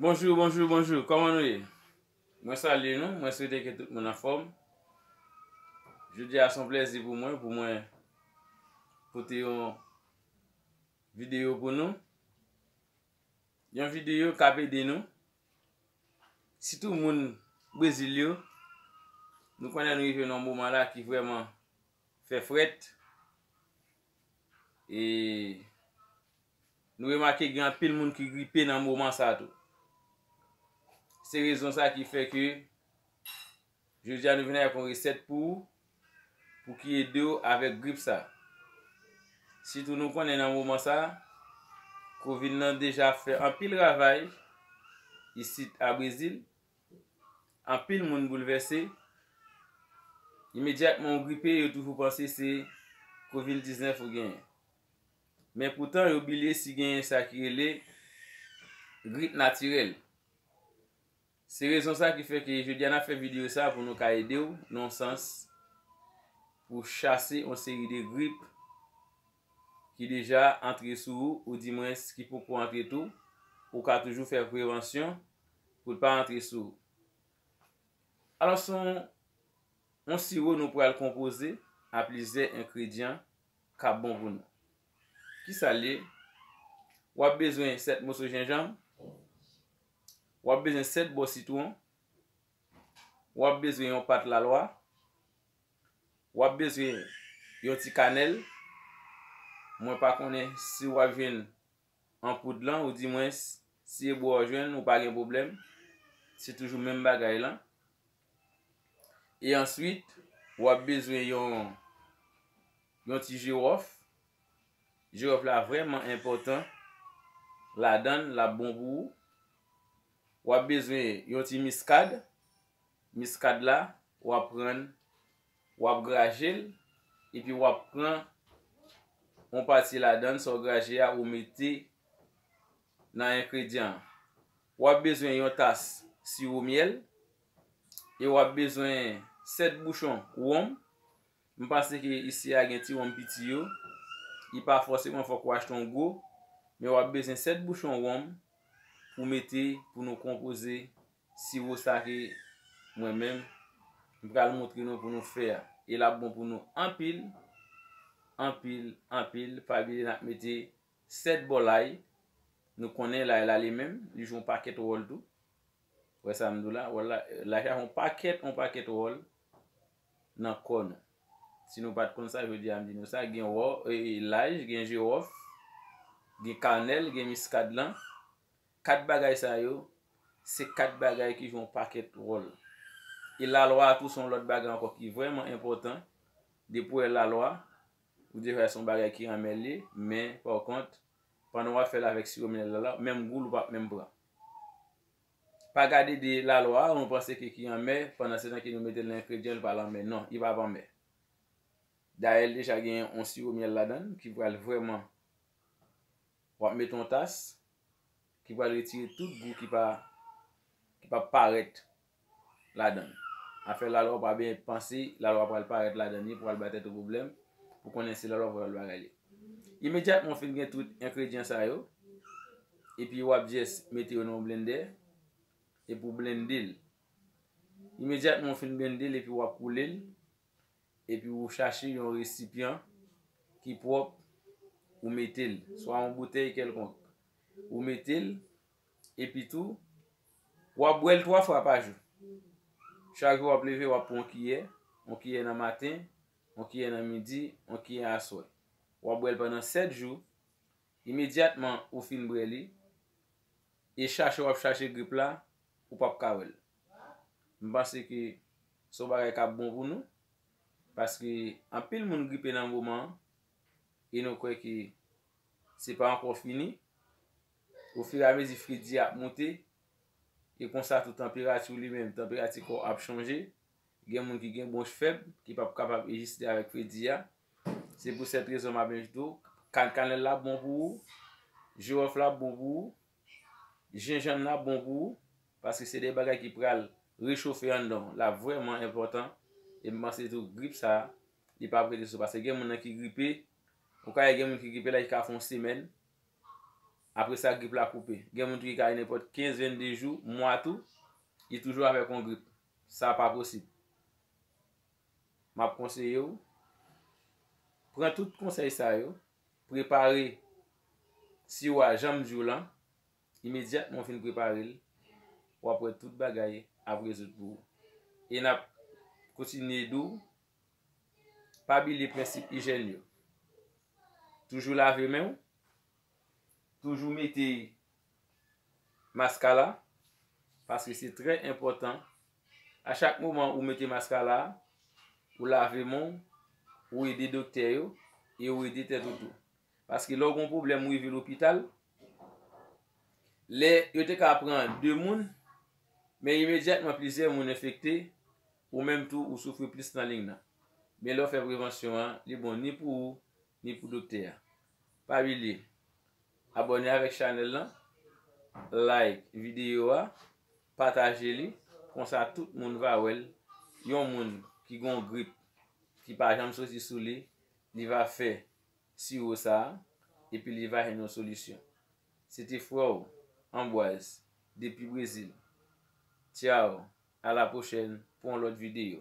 Bonjou bonjou bonjou kòman nou ye mwen salye nou mwen swete ke tout moun anfòm jodia son plèzi pou mwen pou mwen pote yon video pou nou yon video kap ede nou sitou moun brezil yo nou konnen nou rive nan yon moman la ki vrèman fè frèt e nou remake gen anpil moun ki gripe nan moman sa tou. Se rezon sa ki fè ke jodi a nou vini ak yon resèt pou ou pou ki ede ou avèk grip sa. Sitou nou konnen nan moman sa covid lan deja fè anpil ravaj isit a Brezil. Anpil moun boulvèse. Imedyatman ou gripe, yo toujou panse se Covid 19 ou genyen. Men poutan yo bilye si genyen sa ki rele grip natirèl. Se rezon sa ki fè ke jodi a nap fè videyo sa pou nou ka ede ou nan yon sans pou chase yon seri de grip ki deja antre sou ou, ou di mwens ki poko antre tou. Ou ka toujou fè prevansyon pou l pa antre sou ou. Alò se yon siwo nou pral konpoze a plizyè engredyan k ap bon pou nou. Kisa l ye? W ap bezwen 7 moso jenjanm, w ap bezwen 7 bò sitwon, w ap bezwen yon pat lalwa, w ap bezwen yon ti kanèl, mwen pa konnen si w ap jwenn. an poud lan ou di mwen si e bwa ou jwenn ou pa gen pwoblèm se toujou menm bagay lan e answit wap bezwen yon yon ti jirof jirof la vrèman enpòtan ladan lap bon pou ou wap bezwen yon ti miskad miskad la wap prann. Wap grajel epi wap pran yon pati ladann sa w graje a ou mete nan enkredyan an. Wap bezwen yon tas siwo myèl e wap bezwen 7 bouchon wonm. M panse ke isi a gen ti wonm piti yo. Li pa fòseman fòk ou achte yon gwo. Men wap bezwen 7 bouchon wonm pou mete pou nou konpoze Siwo sa ke mwen menm m pral montre nou pou nou fè a. E l ap bon pou nou anpil, anpil, anpil. Pa bliye n ap mete 7 bò lay. Nou konnen lay la li menm, li jwe yon pakèt wòl tou. Ou wè sa m di w la? Lay la jwe yon pakèt, yon pakèt wòl nan kò nou. Si nou pa t konn sa, jodi a m di nou sa. Gen lay, gen jiwòf, gen kanèl, gen miskadlan. Kat bagay sa yo, se kat bagay ki jwe yon pakèt wòl. E lalwa a tou se yon lòt bagay ankò ki vrèman enpòtan. Depi ou wè lalwa, ou deja wè se yon bagay ki anmè l ye. Men, pakont, pandan w ap fè l avèk siwo minèl lalwa a, menm gou l ou pap menm pran. Pa gade de lalwa a, nou panse ke ki anmè, pandansetan ke nou mete l nan engredyan, li pa lanmè. Non, li pap anmè. Dayè, l deja gen yon siwo minèl ladan l ki pral vrèman W ap mete yon tas ki pral retire tout gou ki pa ki pa parèt ladan l. Afè lalwa ou pa benyen panse lalwa pral parèt ladan li pou al bay tèt ou pwoblèm pou konnen se lalwa pou al bagay li. Imedyatman ou fin gen tout enkredyan sa yo, epi w ap jès mete yo nan yon blendè epi w blende l. Imedyatman ou fin blende l epi w ap koule l. epi ou chache yon resipyan ki pwòp ou mete l, swa yon boutèy kèlkonk ou mete l, epi tou w ap bwè l 3 fwa pa jou, chak jou w ap leve w ap pran yon kiyè, yon kiyè nan maten, yon kiyè nan midi, yon kiyè aswè, w ap bwè l pandan 7 jou, imedyatman ou fin bwè li, e chache w ap chache grip la, ou p ap ka wè l. M panse ke Se yon bagay k ap bon pou nou, paske anpil moun gripe nan moman an, e nou kwè ke se pa ankò fini. Ofiramezi fredi a ap moute, e konsa tou tanperati w li menm, tanperati kò w ap chanje. Gen moun ki gen bwonch fèb, ki p ap kapab egziste avèk fredi a. Se pou sèt rezon m ap envite w. Kannkanlèl la bon pou ou, jiwòf la bon pou ou. Jenjanm nan ap bon pou ou, paske se de bagay ki pral rechofe anndan w, l ap vrèman enpòtan. E m panse tou grip sa a, li pap rete sou, paske gen moun nan ki gripe, ou ka wè gen moun ki gripe la ki ka fè yon semèn, apre sa grip la koupe. Gen moun tou ki ka gen nenpòt 15, 22 jou, mwa tou, li toujou avèk yon grip. Sa pa posib. M ap konseye w, pran tout konsèy sa yo, Prepare siwo a jan m di w lan, imedyatman w fin prepare l, w ap wè tout bagay ap rezoud pou ou. E n ap kontinye di w, pa bilye prensip ijèn yo. Toujou lave men w, toujou mete maskala paske se trè enpòtan a chak moman ou mete maskala ou lave men w ou ede doktè yo e ou ede tèt ou tou paske lè w gen yon pwoblèm ou rive lopital lè yo te ka pran 2 moun men imedyatman plizyè moun enfekte ou menm tou ou soufri plis nan ling nan men lè w fè prevansyon an li bon ni pou ou Ni pou doktè a. Pa bliye Abòne avèk chanèl lan, like videyo a, pataje li, konsa tout moun va wèl, yon moun ki gon grip ki pa janm soti sou li, li va fè siwo sa epi li va jwenn yon solisyon. Se te frè w Anbwaz depi Brezil. Tchao, a la pwochèn pou yon lòt videyo.